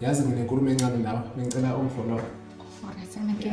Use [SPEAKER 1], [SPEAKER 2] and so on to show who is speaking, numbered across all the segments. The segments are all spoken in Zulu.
[SPEAKER 1] yazi nginenkulumo encane nawe bengicela ungifollowe Alright, sana
[SPEAKER 2] ke.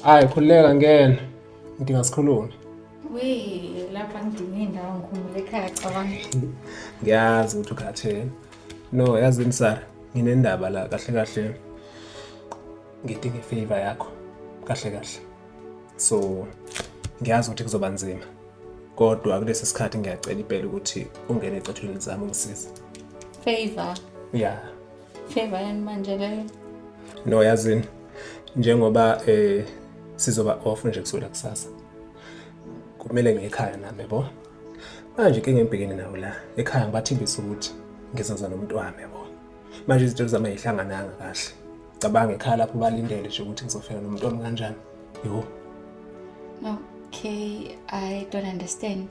[SPEAKER 1] hayi khululeka ngena ngidinga sikhulume Wee,
[SPEAKER 2] lapha ngidinga indawo ngikhumule ekhaya cabanga. ngiyazi
[SPEAKER 1] ukuthi ukhathele no yazi msara nginendaba la kahle kahle ngidinga ifavor yakho kahle kahle so ngiyazi ukuthi kuzoba nzima kodwa kulesi sikhathi ngiyacela impela ukuthi ungene ecathulweni zami ungisize favor
[SPEAKER 2] yeah
[SPEAKER 1] favor
[SPEAKER 2] yani manje leyo no yazini
[SPEAKER 1] njengoba eh sizoba off nje kusukela kusasa kumele ngekhaya nami bo manje ke ngembhekene nawo la ekhaya ngibathimbisa ukuthi ngizoza nomuntu wami bo manje izinto zami ayihlangananga kahle cabanga ekhaya lapho balindele nje ukuthi ngizofika nomuntu wami kanjani yho
[SPEAKER 2] okay i don't understand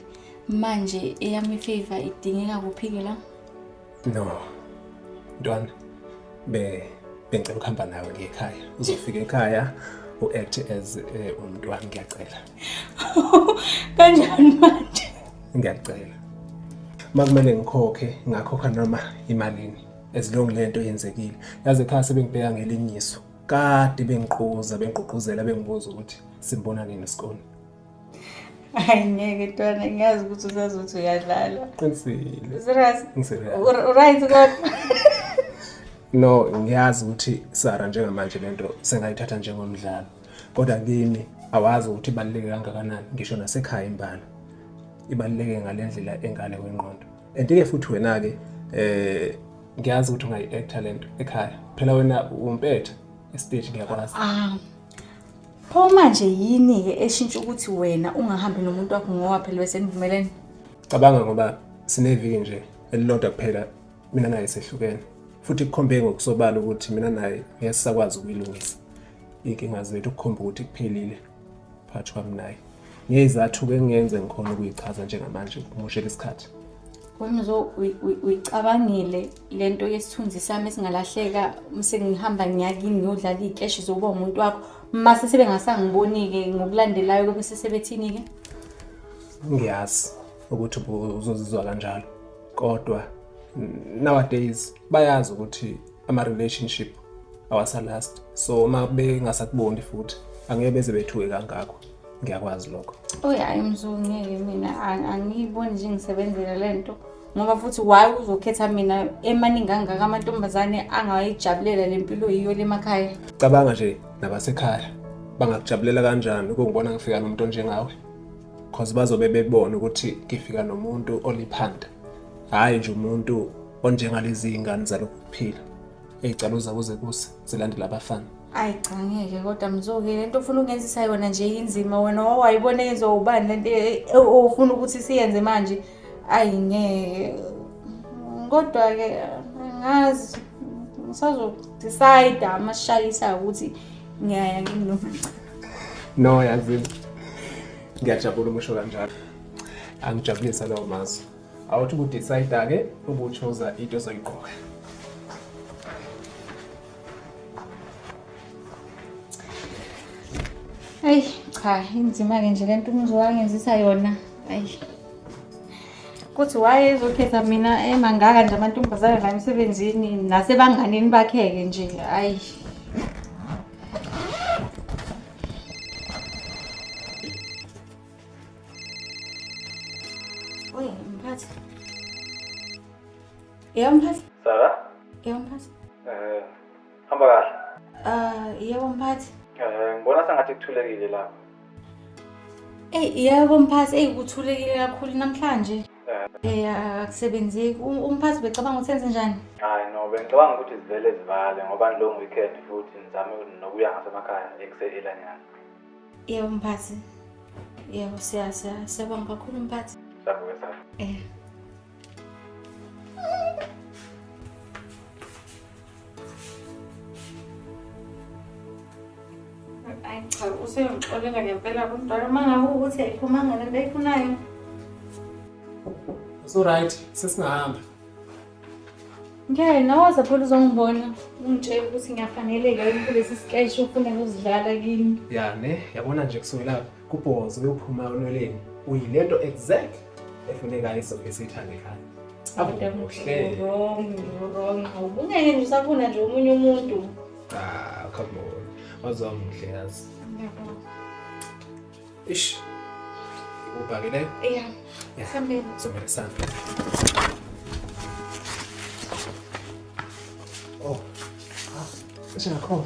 [SPEAKER 2] manje eyami favor idingeka kuphike la no
[SPEAKER 1] ntwana be bengicela ukuhamba nawe ngekhaya uzofika ekhaya u-act as eh, umntwana ngiyacela kanjani
[SPEAKER 2] manje ngiyacela
[SPEAKER 1] makumele ngikhokhe ngakhokha noma imalini ezilongi lento yenzekile yazi ekhaya sebengibheka ngelinyiso kade bengiquza bengququzela bengibuza ukuthi simbona nini isikole
[SPEAKER 2] hayi ngeke ntwana ngiyazi ukuthi usazothi uyadlala qinisile serious right
[SPEAKER 1] kodwa
[SPEAKER 2] no
[SPEAKER 1] ngiyazi ukuthi sara njengamanje lento sengayithatha njengomdlalo kodwa kimi awazi ukuthi ibaluleke kangakanani ngisho nasekhaya imbala ibaluleke ngale ndlela engale kwengqondo and-ke futhi wena-ke eh ngiyazi ukuthi ungayi-actor le nto ekhaya phela wena umpetha esiteji ngiyakwazi ah,
[SPEAKER 2] pho manje yini-ke eshintsha ukuthi wena ungahambi nomuntu wakho ngoba phela besenivumelene cabanga ngoba
[SPEAKER 1] sineviki nje elilodwa kuphela mina naye sehlukene futhi kukhombe ngokusobala ukuthi mina naye ngeke sisakwazi ukuyilungisa iy'nkinga zethu kukhomba ukuthi kuphelile phakathi kwami naye ngeyizathu-ke engiyenze ngikhona ukuyichaza njengamanje kumushela isikhathi Wemzo
[SPEAKER 2] uyicabangile lento yesithunzi sami esingalahleka mse ngihamba ngiyakini ngiyodlala iy'keshi zokuba umuntu wakho mase sebengasangiboni-ke ngokulandelayo kube sesebethini-ke
[SPEAKER 1] ngiyazi ukuthi uzozizwa kanjalo kodwa nowadays bayazi ukuthi ama relationship awasalast so uma bengasakuboni futhi angeke beze bethuke kangakho ngiyakwazi lokho oy hayi mzulu
[SPEAKER 2] ngeke mina angiyiboni nje ngisebenzela le nto ngoba futhi why uzokhetha mina emaningi angaka amantombazane angayijabulela le mpilo yiyo le makhaya cabanga nje
[SPEAKER 1] nabasekhaya bangakujabulela kanjani ukungibona ngifika nomuntu onjengawe cause bazobe bebona ukuthi ngifika nomuntu oliphanda hhayi nje umuntu onjengalezi iy'ngane zalokhu kuphila ey'calo zabo zekusa zilandela abafana ayi cha ngeke
[SPEAKER 2] kodwa mzoke le nto ofuna ukungenzisa yona nje inzima wena wawayibona yenziwa ubani le nto e- e- ofuna ukuthi siyenze manje ayi ngeke kodwa-ke ngazi ngisazodicide amashayisayo ukuthi ngiyaya kimi nomama no
[SPEAKER 1] yazini ngiyajabula umusho kanjalo angijabulisa lawo mazwi awuthi ukudicide-ke ukutshoza into ezoyigqoka
[SPEAKER 2] ayi cha inzima-ke nje le nto umzi wangenzisa yona ayi kuthi wayezokhetha mina emangaka nje amantombazane la emsebenzini nasebanganini bakheke nje ayi Oye, mphathi. Yebo mphathi. Sara?
[SPEAKER 3] Yebo mphathi. Eh, Hamba kahle. Ah, yebo mphathi.
[SPEAKER 2] Eh, ngibona sengathi
[SPEAKER 3] kuthulekile lapha. Ey,
[SPEAKER 2] yebo mphathi, ey kuthulekile kakhulu namhlanje. Eh, akusebenzeki. U- Umphathi becabanga ukuthi enze njani? Hayi no, bengicabanga
[SPEAKER 3] ukuthi zivele zivale ngoba long weekend futhi ngizame nokuya ngasemakhaya ekuseyelanyana. Yebo
[SPEAKER 2] mphathi. Yebo siya siya siyabonga kakhulu mphathi. Savuke savuke.
[SPEAKER 3] Eh.
[SPEAKER 2] cha useyongixolela ngempela kumntwana uma ngabe ukuthi ayiphumanga lento ayifunayo
[SPEAKER 1] usuright sesingahamba
[SPEAKER 2] ngeke nawaza phela uzongibona ungitshela ukuthi ngiyafaneleka yini kulesi sikeshe ufuna kuzidlala kimi ya ne yabona
[SPEAKER 1] nje kusukela kubhozo uyophuma onweleni uyilento exact efunekayo isoke sithandekayo ubungeke
[SPEAKER 2] nje usafuna nje omunye umuntu cha come
[SPEAKER 1] on wazwa muhle yazi ish ubhakele
[SPEAKER 2] yeah sambeni somele sambe
[SPEAKER 1] oh ah singakhohlwa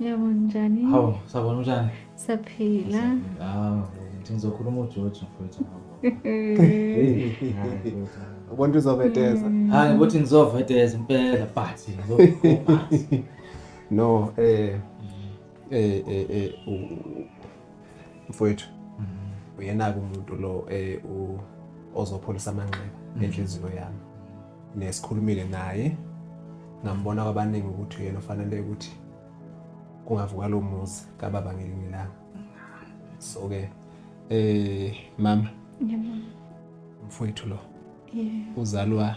[SPEAKER 4] Yebo
[SPEAKER 2] njani? Hawu, sabona unjani?
[SPEAKER 4] Saphila.
[SPEAKER 2] Hawu, ngithi
[SPEAKER 4] ngizokhuluma uJojo mfowethu.
[SPEAKER 1] Ubona uzoveteza. Mm. Hayi, ukuthi
[SPEAKER 4] ngizoveteza impela but ngizokhuluma.
[SPEAKER 1] No, eh eh eh, eh mfowethu mm-hmm. uyena-ke umuntu lo eh, ozopholisa amanxeba mm-hmm. enhliziyo yami nesikhulumile naye ngambona kwabaningi ukuthi uyena ofanele ukuthi kungavuka lo muzi kababa ngelinye ilanga so-ke eh mama
[SPEAKER 2] mfowethu
[SPEAKER 1] lo uzalwa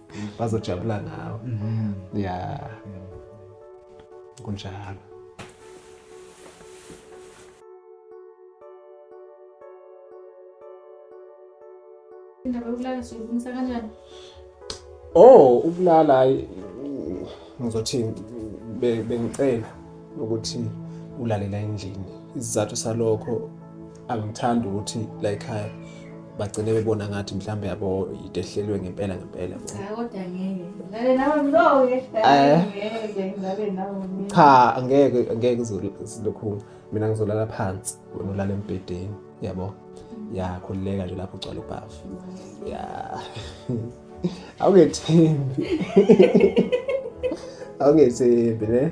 [SPEAKER 1] bazojabula ngawo mhm. ya kunjalo indaba yokulala
[SPEAKER 2] siyilungisa
[SPEAKER 1] kanjani oh ukulala hayi ngizothi bengicela ukuthi ulalela endlini isizathu salokho angithandi ukuthi la ekhaya bagcine bebona ngathi mhlawumbe yabo into ehlelwe ngempela ngempela cha
[SPEAKER 2] angeke angeke
[SPEAKER 1] silokhu mina ngizolala phansi wena ulala embhedeni yabo yakhululeka nje lapho ugcwala ubhavu ya awungethembi awungethembi ne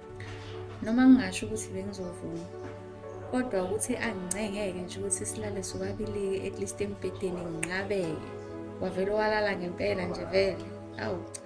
[SPEAKER 2] noma ngingasho ukuthi bengizovuma kodwa ukuthi angincengeke nje ukuthi silale sobabili-ke at least embhedeni nginqabeke wavele walala ngempela nje vele awu cha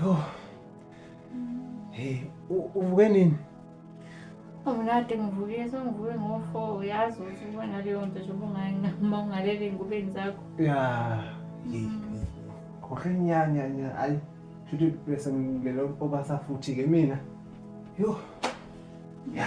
[SPEAKER 1] Yho. Hey, u- uvuke nini?
[SPEAKER 2] Awunade ngivuke sengivuke ngo-four uyazi ukuthi ubona leyo nto njengoba ungayinqama ungalele ey'ngubeni zakho Ya.
[SPEAKER 1] Hey. Khohle nyanya nya. Ayi. Futhi bese ngilele obasa futhi ke mina. Yho. Ya.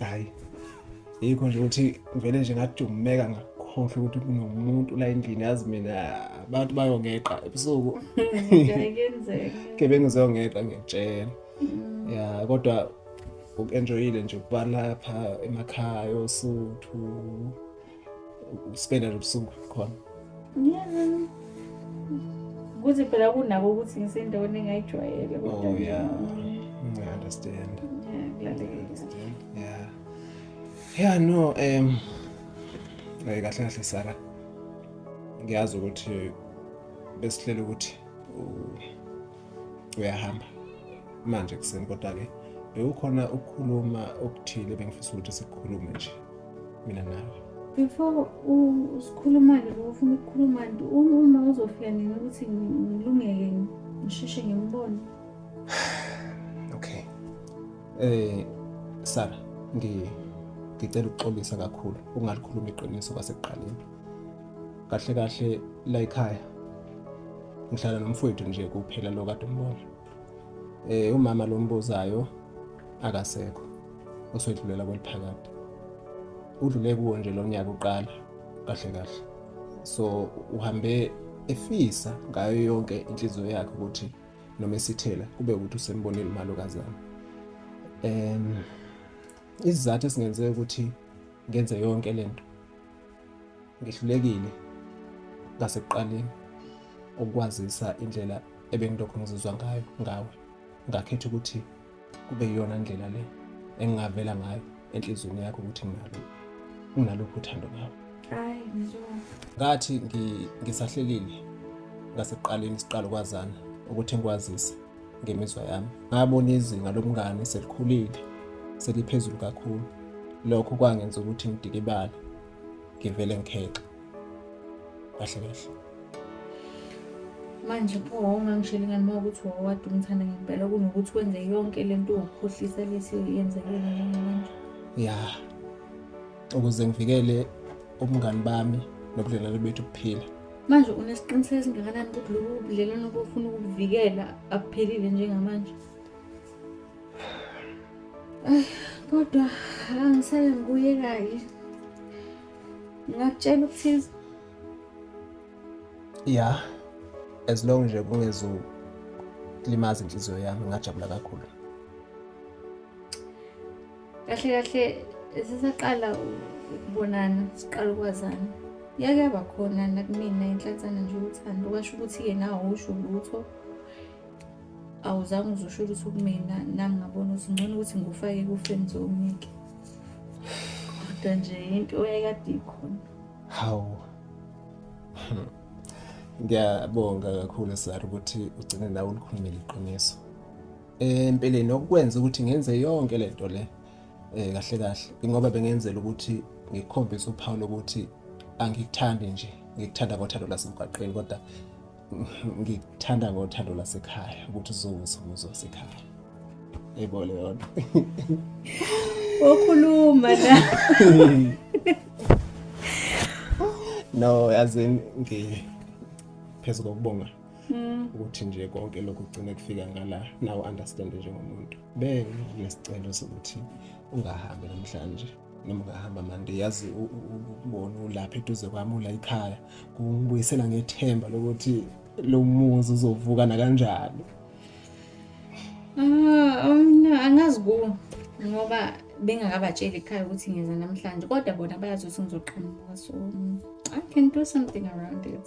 [SPEAKER 2] hayi
[SPEAKER 1] yikho nje ukuthi ngivele nje ngadumeka ngakhohlwa ukuthi kunomuntu la endlini yazi mina abantu bayongeqa ebusuku
[SPEAKER 2] gebengu
[SPEAKER 1] ziyongeqa ngiyakutshela mm. ya kodwa uku-enjoyile nje ukuba lapha emakhaya osuthu uspenda lobusuku khona
[SPEAKER 2] kuthi phela kunako ukuthi ngisendaweni engayijwayele kodwa oh, yeah.
[SPEAKER 1] I understand.
[SPEAKER 2] Yeah,
[SPEAKER 1] yeah. Yeah, no, um eh kahle kahle Sara. Ngiyazi ukuthi besihlela ukuthi uyahamba manje kuseni kodwa-ke bekukhona ukukhuluma okuthile bengifisa ukuthi sikukhulume nje mina nawe before
[SPEAKER 2] usikhuluma-ke bokufuna ukukhuluma nto uma uzofika nini ukuthi ngilungeke ngisheshe ngimbone
[SPEAKER 1] okay eh sara ngicela ukuxolisa kakhulu ungalikhuluma iqiniso kwasekuqaleni kahle kahle la ekhaya ngihlala nomfowethu nje kuphela lo kade umbona eh umama lo mbuzayo akasekho oswedlulela kweliphakade udlule kuwo nje lo nyaka uqala kahle kahle so uhambe efisa ngayo yonke inhliziyo yakhe ukuthi noma esithela kube ukuthi usembonile umalokazana um isizathu esingenze ukuthi ngenze yonke lento Ngihlulekile ngasekuqaleni ukwazisa indlela ebengilokhu ngizizwa ngayo ngawe. Ngakhetha ukuthi kube iyona ndlela le engingavela ngayo enhliziyweni yakho ukuthi nginalo unaluphi uthando ngawe. Hayi
[SPEAKER 2] njengoba ngathi
[SPEAKER 1] ngisahlelile ngasekuqaleni siqala ukwazana ukuthi ngikwazise ngemizwa yami ngabona izinga lomngane selikhulile seliphezulu kakhulu lokho kwangenza ukuthi ngidikibale ngivele ngikhexe kahle kahle
[SPEAKER 2] manje pho wawungangisheli ngani uma ukuthi wawade umthanda ngempela kunokuthi wenze yonke le nto ukhohlisa lesi yenzekele njengamanje ya
[SPEAKER 1] ukuze ngivikele ubungani bami nobudlelwano bethu buphila manje unesiqiniseko
[SPEAKER 2] esingakanani ukuthi lobu budlelwano bofuna ukubuvikela abuphelile njengamanje kodwa angisale ngibuye kaye ngingakutshela ukuthiza
[SPEAKER 1] ya as long nje kungezulimaza inhliziyo yami ngingajabula kakhulu
[SPEAKER 2] kahle kahle sisaqala ukubonana siqala ukwazana yake yaba khona nakumina inhlansana nje uthando kwasho ukuthi-ke nawo usho lutho awuzange uzosho lutho kumina nami ngabona ukuthi ngcono ukuthi ngikufake ku-friends omike kodwa nje into eyayikade ikhona hawu
[SPEAKER 1] ngiyabonga kakhulu sar ukuthi ugcine nawe ulikhulumile iqiniso empeleni okwenza ukuthi ngenze yonke le nto le um kahle kahle ingoba bengenzela ukuthi ngikhombise uphawu lokuthi angikuthandi nje ngikuthanda ngothando lasemgwaqeni kodwa ngikuthanda ngothando lasekhaya ukuthi uzowuza umuzi wasekhaya yebo leyona
[SPEAKER 2] okhuluma la
[SPEAKER 1] no yazi ngiphezu kokubonga Mm. ukuthi nje konke lokhu kugcine kufika ngala nawe understand njengomuntu benginesicelo sokuthi ungahambi namhlanje noma ungahamba mande yazi ukubona ulapha eduze kwami ula ikhaya kungibuyisela ngethemba lokuthi lo muzi uzovuka nakanjani ah
[SPEAKER 2] awuna oh, angazi ku ngoba bengakabatsheli ekhaya ukuthi ngeza namhlanje kodwa bona bayazi ukuthi ngizoqhamuka so i can do something around it